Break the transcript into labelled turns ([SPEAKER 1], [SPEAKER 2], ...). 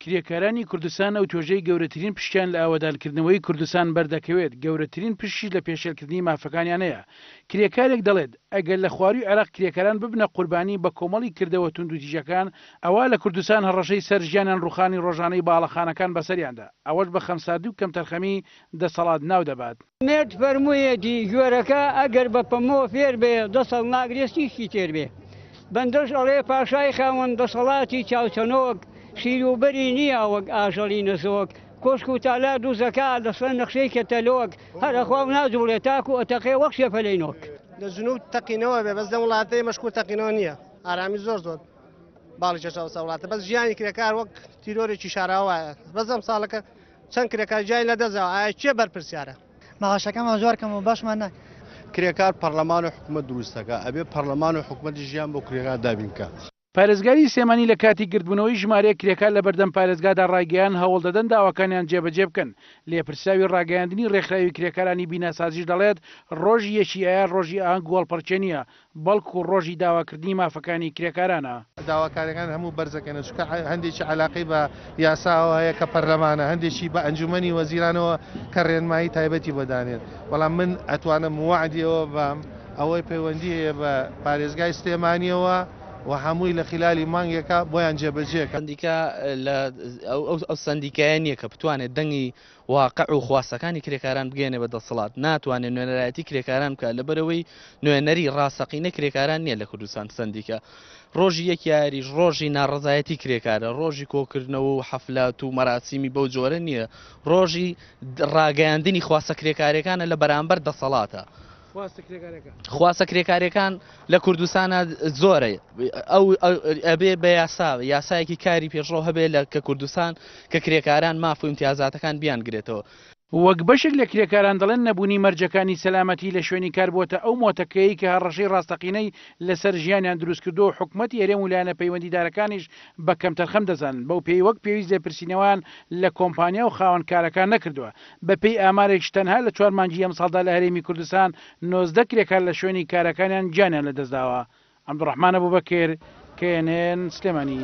[SPEAKER 1] کرێکارانی کوردستان ئەو توێژەی گەورەترین پشکیان لە ئاوەدانکردنەوەی کوردستان بەردەکەوێت، گەورەترین پشکیش لە پێشێلکردنی مافەکانیانەیە. کرێکارێک دەڵێت، ئەگەر لە خوارووی عێراق کرێکاران ببنە قوربانی بە کۆمەڵی کردەوە توندوتیژەکان، ئەوا لە کوردستان هەڕەشەی سەر ژیانیان ڕووخانی ڕۆژانەی باڵەخانەکان بەسەریاندا، ئەوەش بە خەمساردی و کەمتەرخەمی دەسەڵات ناو دەبات. مێرد فەرموویەتی،
[SPEAKER 2] گوێرەکە ئەگەر بە پەمەوە فێر بێ، دە ساڵ ناگرێ سیشکی تێر بێ. بەندەش ئەڵێ، پاشای خاوەن دەسەڵاتی چاوچنۆک، شیر و بەری نییە وەک ئاژەڵی نەزۆک. کۆشک و تالار دووزەکا، لە سەر نەخشەی کەتەلۆک. هەر ئەخوا و ناجووڵێ، تاکوو ئەتەقێ وەک شێفەلەی نۆک. لە جنووب
[SPEAKER 3] تەقینەوە بێ، بەس لەم وڵاتە ئێمەش کورد تەقینەوە نییە. ئارامی زۆر زۆر باڵی کێشا وەستا وڵاتە، بەس ژیانی کرێکار وەک تیرۆرێکی شاراوە وایە. بەس ئەمساڵەکە. چەند کرێکار گیانی لەدەستداوە، ئایا کێ بەرپرسیارە؟ مەعاشەکانمان زۆر
[SPEAKER 4] کەمە و باشمان ناکەن. کرێکار پەڕلەمان
[SPEAKER 5] و حکومەت دروست دەکات، ئەبێت پەڕلەمان و حکومەتیش ژیان بۆ کرێکار دابین بکات. پارێزگاری
[SPEAKER 1] سلێمانی لە کاتی گردبوونەوەی ژمارەیەک کرێکار لە بەردەم پارێزگادا ڕایگەیاند هەوڵ دەدەن داواکانیان جێبەجێ بکەن. لێپرسراوی ڕاگەیاندنی ڕێکخراوی کرێکارانی بیناسازیش دەڵێت، ڕۆژی یەکی ئایار ڕۆژی ئاهەنگ و هەڵپەڕکێ نییە، بەڵکو ڕۆژی داواکردنی مافەکانی کرێکارانە. داواکاریەکان هەموو
[SPEAKER 6] بەرزەکەنە چونکە هەندێکی عەلاقەی بە یاساوە هەیە کە پەرلەمانە هەندێکی بە ئەنجومەنی وەزیرانەوە کە رێنمایی تایبەتی بۆ دانێن بەڵام من ئەتوانم وەعدی ئەوە بام ئەوەی پەیوەندی هەیە بە پارێزگای سلێمانیەوە و هەمووی لە خلالی مانگێکا بۆیان جێبەجێ ئەکەم. سەندیکا
[SPEAKER 7] ئەو سەندیکایە نیە کە بتوانێت دەنگی واقع و خواستەکانی کرێکاران بگەیەنێ بە دەسەڵات، ناتوانێ نوێنەرایەتی کرێکاران بکا، لەبەرئەوەی نوێنەری ڕاستەقینە کرێکاران نیە لە کوردستان، سەندیکا، ڕۆژی یەک یاریش ڕۆژی ناڕەزایەتی کرێکارە، ڕۆژی کۆکردنەوە و حەفلات و مەراسیمی بەو جۆرە نیە، ڕۆژی ڕاگەیاندنی خواستە کرێکاریەکانە لە بەرامبەر دەسەڵاتە. خواستە کرێکارەکان لە کوردستانە زۆرە ئەو ئەبێ بە یاسا یاسایەکی کاری پێشڕۆ هەبێ لە کە کوردستان کە کرێکاران ماف و امتیازاتەکان بیان گرێتەوە وەک بەشێک
[SPEAKER 1] لە کرێکاران دەڵێن نەبوونی مەرجەکانی سەلامەتی لە شوێنی کار بووەتە ئەو مۆتەکەیەی کە هەڕەشەی ڕاستەقینەی لەسەر ژیانیان دروستکردووە و حکومەتی هەرێم و لایەنە پەیوەندیدارەکانیش بە کەمتەرخەم دەزانن بەو پێیەی وەک پێویست لێپرسینەوەیان لە کۆمپانیا و خاوەنکارەکان نەکردووە بەپێی ئامارێکش تەنها لە چوار مانگی ئەمساڵدا لە هەرێمی کوردستان نۆزدە کرێکار لە شوێنی کارەکانیان گیانیان لەدەستداوە. عەبدولڕەحمان ئەبوبەکر، knn، سلێمانی.